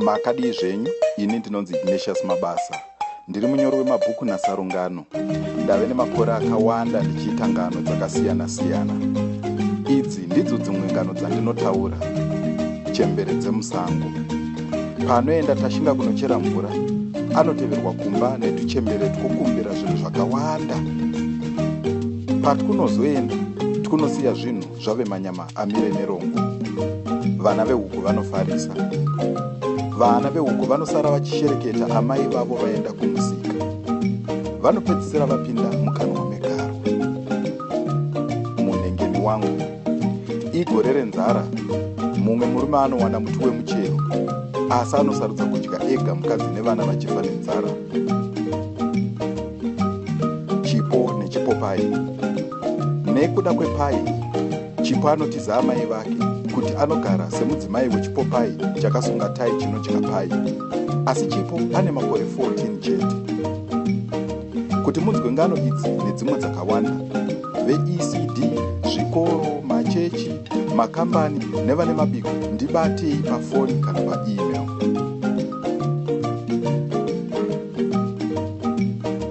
makadii zvenyu ini ndinonzi ignatius mabasa ndiri munyori wemabhuku nasarungano ndave nemakore akawanda ndichiita ngano dzakasiyana-siyana idzi ndidzo dzimwe ngano dzandinotaura chembere dzemusango paanoenda tashinga kunochera mvura anoteverwa kumba netuchembere twokumbira zvinhu zvakawanda patikunozoenda tikunosiya zvinhu zvave manyama amire nerongo vana vehuku vanofarisa vana vehuku vanosara vachishereketa amai vavo vaenda kumusika vanopedzisira vapinda mukanwa megarwa munengeni wangu igore renzara mumwe murume anowana muti wemuchero asi anosarudza kudya ega mukadzi nevana vachifa nenzara chipo nechipopai nekuda kwepai chipo anotiza amai vake kuti anogara semudzimai wechipopai chakasunga tai chinodya pai asi chipo ane makore 14 chete kuti munzwe ngano idzi nedzimwe dzakawanda veecd zvikoro machechi makambani nevane mabiko ndibatei pafoni kana paemail